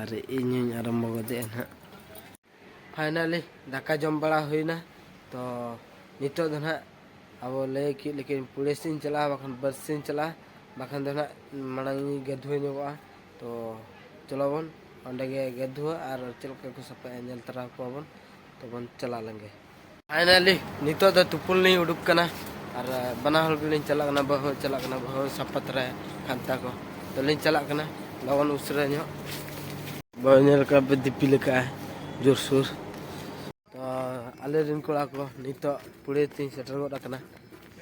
ᱟᱨ ᱤᱧ ᱦᱚᱧ ᱟᱨᱟᱢᱵᱚ ᱜᱚᱫᱮᱜᱼᱟ ᱱᱟᱦᱟᱜ ᱯᱷᱟᱭᱱᱟᱞᱤ ᱫᱟᱠᱟ ᱡᱚᱢ ᱵᱟᱲᱟ ᱦᱩᱭᱱᱟ ᱛᱚ ᱱᱤᱛᱚᱜ ᱫᱚ ᱱᱟᱦᱟᱜ ᱟᱵᱚ ᱞᱟᱹᱭ ᱠᱮᱫ ᱞᱮᱠᱟ ᱯᱩᱲᱮ ᱥᱮᱫ ᱤᱧ ᱪᱟᱞᱟᱜᱼᱟ ᱵᱟᱠᱷᱟᱱ ᱵᱟᱥ ᱥᱮᱫ ᱤᱧ ᱪᱟᱞᱟᱜᱼᱟ ᱵᱟᱠᱷᱟᱱ ᱫᱚ ᱱᱟᱦᱟᱜ ᱢᱟᱲᱟᱝ ᱤᱧ ᱜᱟᱹᱫᱷᱩᱣ ᱧᱚᱜᱚᱜᱼᱟ ᱛᱚ ᱪᱚᱞᱚ ᱵᱚᱱ ᱚᱸᱰᱮ ᱜᱮ ᱜᱟᱹᱫᱷᱩᱣᱟ ᱟᱨ ᱪᱮᱫ ᱞᱮᱠᱟ ᱠᱚ ᱥᱟᱯᱷᱟᱭᱟ ᱧᱮᱞ ᱛᱚᱨᱟ ᱠᱚᱣᱟ ᱵᱚᱱ ᱛᱚᱵᱚᱱ ᱪᱟᱞᱟᱣ ᱞᱮᱱ ᱜᱮ ᱯᱷᱟᱭᱱᱟᱞᱤ ᱱᱤᱛᱚᱜ ᱫᱚ ᱛᱩᱯᱩᱱ ᱞᱤᱧ ᱩᱰᱩᱠ ᱠᱟᱱᱟ ᱟᱨ ᱵᱟᱱᱟ ᱦᱚᱲ ᱜᱮᱞᱤᱧ ᱪᱟᱞᱟᱜ ᱠᱟᱱᱟ ᱵᱟᱹᱦᱩ ᱪᱟᱞᱟᱜ ᱠᱟᱱᱟ ᱵᱟᱹᱦᱩ ᱥᱟᱯᱟ ᱛᱚᱨᱟᱭᱟ ᱠᱷᱟᱱᱛᱟ ᱠᱚ ᱛᱚ ᱞᱤᱧ ᱪᱟᱞᱟᱜ ᱠᱟᱱᱟ ᱞᱚᱜᱚᱱ ᱩᱥᱟᱹᱨᱟ ᱧᱚᱜ ᱵᱟᱹᱦᱩ ᱧᱮᱞ ᱠᱟᱜ ᱯᱮ ᱫᱤᱯᱤᱞ ᱟᱠᱟᱜᱼᱟ ᱡᱳᱨᱥᱳᱨ ᱛᱚ ᱟᱞᱮ ᱨᱮᱱ ᱠᱚᱲᱟ ᱠᱚ ᱱᱤᱛᱚᱜ ᱯᱩᱲᱮ ᱛᱤᱧ ᱥᱮᱴᱮᱨ ᱜᱚᱫ ᱟᱠᱟᱱᱟ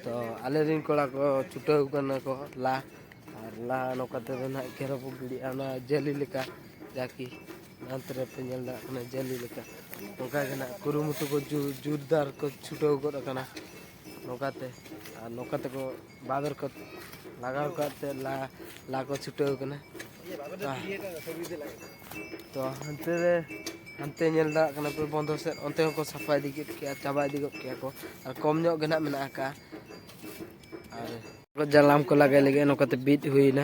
ᱛᱚ ᱟᱞᱮ ᱨᱮᱱ ᱠᱚᱲᱟ ᱠᱚ ᱪᱷᱩᱴᱟᱹᱣ ᱠᱟᱱᱟ ᱠᱚ ᱞᱟ ᱟᱨ ᱞᱟ ᱱᱚᱝᱠᱟ ᱛᱮᱫᱚ ᱱᱟᱦᱟᱜ ᱠᱷᱮᱨᱚ ᱠᱚ ᱜᱤᱰᱤᱜᱼᱟ ᱚᱱᱟ ᱡᱟᱹᱞᱤ ᱞᱮᱠᱟ ᱡᱟᱠᱤ ᱦᱟᱱᱛᱮ ᱨᱮᱯᱮ ᱧᱮᱞ ᱫᱟᱲᱮᱭᱟᱜ ᱠᱟᱱᱟ ᱡᱟᱹᱞᱤ ᱞᱮᱠᱟ ᱱᱚᱝᱠᱟ ᱜᱮ ᱱᱟᱜ ᱠᱩᱨᱩᱢᱩᱴᱩ ᱠᱚ ᱡᱳᱨᱫᱟᱨ ᱠᱚ ᱪᱷᱩᱴᱟᱹᱣ ᱜᱚᱫ ᱟᱠᱟᱱᱟ ᱱᱚᱝᱠᱟᱛᱮ ᱟᱨ ᱱᱚᱝᱠᱟ ᱛᱮᱠᱚ ᱵᱟᱵᱮᱨ ᱠᱚ ᱞᱟᱜᱟᱣ ᱠᱟᱜ ᱛᱮ ᱞᱟ ᱞᱟ ᱠᱚ ᱪᱷᱩᱴᱟᱹᱣ ᱠᱟᱱᱟ ᱛᱚ ᱦᱟᱱᱛᱮ ᱨᱮ ᱦᱟᱱᱛᱮ ᱧᱮᱞ ᱫᱟᱲᱮᱭᱟᱜ ᱠᱟᱱᱟ ᱯᱮ ᱵᱚᱱᱫᱚ ᱥᱮᱫ ᱚᱱᱛᱮ ᱦᱚᱸᱠᱚ ᱥᱟᱯᱷᱟ ᱤᱫᱤ ᱠᱮᱫ ᱠᱮᱭᱟ ᱪᱟᱵᱟ ᱤᱫᱤ ᱜᱚᱫ ᱠᱮᱭᱟ ᱠᱚ ᱟᱨ ᱠᱚᱢ ᱧᱚᱜ ᱜᱮ ᱱᱟᱜ ᱢᱮᱱᱟᱜ ᱟᱠᱟᱫᱼᱟ ᱟᱨ ᱡᱟᱞᱟᱢ ᱠᱚ ᱞᱟᱜᱟᱭ ᱞᱟᱹᱜᱤᱫ ᱱᱚᱝᱠᱟᱛᱮ ᱵᱤᱫ ᱦᱩᱭᱱᱟ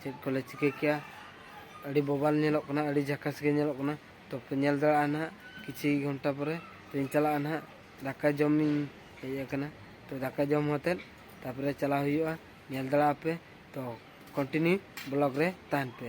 ᱪᱮᱫ ᱠᱚᱞᱮ ᱪᱤᱠᱟᱹ ᱠᱮᱜᱼᱟ ᱟᱹᱰᱤ ᱵᱚᱵᱟᱞ ᱧᱮᱞᱚᱜ ᱠᱟᱱᱟ ᱟᱹᱰᱤ ᱡᱷᱟᱠᱟᱥ ᱜᱮ ᱧᱮᱞᱚᱜ ᱠᱟᱱᱟ ᱛᱚ ᱯᱮ ᱧᱮᱞ ᱫᱟᱲᱮᱭᱟᱜᱼᱟ ᱱᱟᱦᱟᱜ ᱠᱤᱪᱷᱩ ᱜᱷᱚᱱᱴᱟ ᱯᱚᱨᱮ ᱛᱚᱧ ᱪᱟᱞᱟᱜᱼᱟ ᱱᱟᱦᱟᱜ ᱫᱟᱠᱟ ᱡᱚᱢᱤᱧ ᱦᱮᱡ ᱟᱠᱟᱱᱟ ᱛᱚ ᱫᱟᱠᱟ ᱡᱚᱢ ᱠᱟᱛᱮᱫ ᱛᱟᱯᱚᱨᱮ ᱪᱟᱞᱟᱣ ᱦᱩᱭᱩᱜᱼᱟ ᱧᱮᱞ ᱫᱟᱲᱮᱭᱟᱜᱼᱟ ᱯᱮ ᱛᱚ ᱠᱚᱱᱴᱤᱱᱤᱭᱩ ᱵᱞᱚᱜ ᱨᱮ ᱛᱟᱦᱮᱱ ᱯᱮ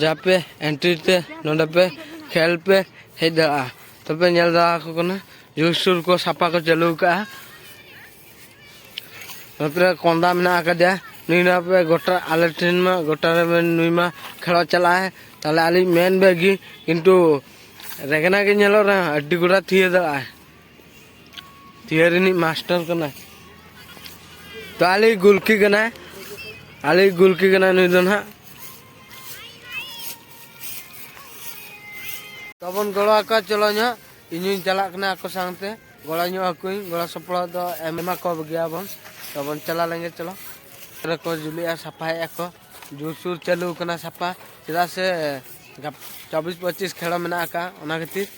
ᱡᱟᱦᱟᱸ ᱯᱮ ᱮᱱᱴᱨᱤ ᱛᱮ ᱱᱚᱰᱮ ᱯᱮ ᱠᱷᱮᱞ ᱯᱮ ᱦᱮᱡ ᱫᱟᱲᱮᱭᱟᱜᱼᱟ ᱛᱚᱯᱮ ᱧᱮᱞ ᱫᱟᱲᱮᱭᱟᱠᱚ ᱠᱟᱱᱟ ᱡᱩᱨ ᱥᱩᱨ ᱠᱚ ᱥᱟᱯᱷᱟ ᱠᱚ ᱪᱟᱹᱞᱩ ᱟᱠᱟᱫᱼᱟ ᱱᱚᱛᱮ ᱨᱮ ᱠᱚᱸᱫᱟ ᱢᱮᱱᱟᱜ ᱟᱠᱟᱫᱮᱭᱟ ᱱᱩᱭ ᱱᱚᱣᱟ ᱯᱮ ᱜᱚᱴᱟ ᱟᱞᱮ ᱴᱷᱮᱱ ᱢᱟ ᱜᱚᱴᱟ ᱨᱮ ᱢᱮᱱ ᱱᱩᱭ ᱢᱟ ᱠᱷᱮᱞᱚᱜ ᱪᱟᱞᱟᱜᱼᱟᱭ ᱛᱟᱦᱚᱞᱮ ᱟᱹᱞᱤᱧ ᱢᱮᱱ ᱵᱮᱜᱤ ᱠᱤᱱᱛᱩ ᱨᱮᱜᱮᱱᱟ ᱜᱮ ᱧᱮᱞᱚᱜ ᱨᱮᱦᱚᱸ ᱟᱹᱰᱤ ᱜᱚᱴᱟ ᱛᱷᱤᱭᱟᱹ ᱫᱟᱲᱮᱭᱟᱜᱼᱟᱭ ᱛᱷᱤᱭᱟᱹ ᱨᱤᱱᱤᱡ ᱢᱟᱥᱴᱟᱨ ᱠᱟᱱᱟᱭ ᱛᱚ ᱟᱞᱮ ᱜᱩᱞᱠᱤ ᱠᱟᱱᱟᱭ ᱟᱞᱮ ᱜᱩᱞᱠᱤ ᱠᱟᱱᱟᱭ ᱱᱩᱭ ᱫᱚ ᱱᱟᱦᱟᱜ ᱛᱟᱵᱚᱱ ᱜᱚᱲᱚ ᱟᱠᱚᱣᱟ ᱪᱚᱞᱚ ᱧᱚᱜ ᱤᱧᱤᱧ ᱪᱟᱞᱟᱜ ᱠᱟᱱᱟ ᱟᱠᱚ ᱥᱟᱶᱛᱮ ᱜᱚᱲᱚ ᱧᱚᱜ ᱟᱠᱚᱧ ᱜᱚᱲᱚ ᱥᱚᱯᱲᱚ ᱫᱚ ᱮᱢᱟ ᱠᱚ ᱜᱮᱭᱟᱵᱚᱱ ᱛᱟᱵᱚᱱ ᱪᱟᱞᱟᱣ ᱞᱮᱱᱜᱮ ᱪᱚᱞᱚ ᱨᱮᱠᱚ ᱡᱩᱞᱩᱜᱼᱟ ᱥᱟᱯᱷᱟᱭᱮᱫᱼᱟ ᱠᱚ ᱡᱳᱨᱥᱳᱨ ᱪᱟᱹᱞᱩ ᱟᱠᱟᱱᱟ ᱥᱟᱯᱷᱟ ᱪᱮᱫᱟᱜ ᱥᱮ ᱪᱚᱵᱵᱤᱥ ᱯᱚᱸᱪᱤᱥ ᱠᱷᱮᱲᱚ ᱢᱮᱱᱟᱜ ᱟᱠᱟᱫᱼᱟ ᱚᱱᱟ ᱠᱷᱟᱹᱛᱤᱨ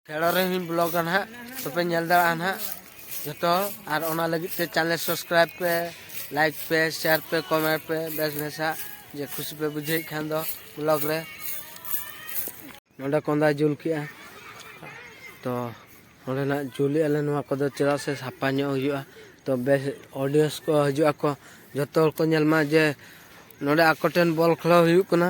ᱠᱷᱮᱲᱚ ᱨᱮᱦᱚᱸᱧ ᱵᱞᱚᱜᱟ ᱱᱟᱦᱟᱜ ᱛᱚᱯᱮ ᱧᱮᱞ ᱫᱟᱲᱮᱭᱟᱜᱼᱟ ᱱᱟᱦᱟᱜ ᱡᱚᱛᱚ ᱟᱨ ᱚᱱᱟ ᱞᱟᱹᱜᱤᱫ ᱛᱮ ᱪᱮᱱᱮᱞ ᱥᱟᱵᱥᱠᱨᱟᱭᱤᱵ ᱯᱮ ᱞᱟᱭᱤᱠ ᱯᱮ ᱥᱮᱭᱟᱨ ᱯᱮ ᱠᱚᱢᱮᱱᱴ ᱯᱮ ᱵᱮᱥ ᱵᱮᱥᱟᱜ ᱡᱮ ᱠᱷᱩᱥᱤ ᱯᱮ ᱵᱩᱡᱷᱟᱹᱣᱮᱫ ᱠᱷᱟᱱ ᱫᱚ ᱵᱞᱚᱜ ᱨᱮ ᱱᱚᱰᱮ ᱠᱚᱸᱫᱟ ᱡᱩᱞ ᱠᱮᱜᱼᱟ ᱛᱚ ᱱᱚᱰᱮᱱᱟᱜ ᱡᱩᱞᱮᱜᱼᱟ ᱞᱮ ᱱᱚᱣᱟ ᱠᱚᱫᱚ ᱪᱮᱫᱟᱜ ᱥᱮ ᱥᱟᱯᱷᱟ ᱧᱚᱜ ᱦᱩᱭᱩᱜᱼᱟ ᱛᱚ ᱵᱮᱥ ᱚᱰᱤᱭᱮᱱᱥ ᱠᱚ ᱦᱤᱡᱩᱜ ᱟᱠᱚ ᱡᱚᱛᱚ ᱦᱚᱲ ᱠᱚ ᱧᱮᱞ ᱢᱟ ᱡᱮ ᱱᱚᱰᱮ ᱟᱠᱚ ᱴᱷᱮᱱ ᱵᱚᱞ ᱠᱷᱮᱞᱳ ᱦᱩᱭᱩᱜ ᱠᱟᱱᱟ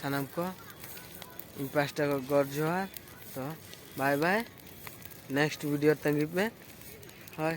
ᱥᱟᱱᱟᱢ ᱠᱚ ᱤᱧ ᱯᱟᱥᱴᱟ ᱠᱷᱚᱱ ᱜᱚᱰ ᱡᱚᱦᱟᱨ ᱛᱚ ᱵᱟᱭ ᱵᱟᱭ ᱱᱮᱠᱥᱴ ᱵᱷᱤᱰᱤᱭᱳ ᱛᱟᱺᱜᱤ ᱯᱮ ᱦᱳᱭ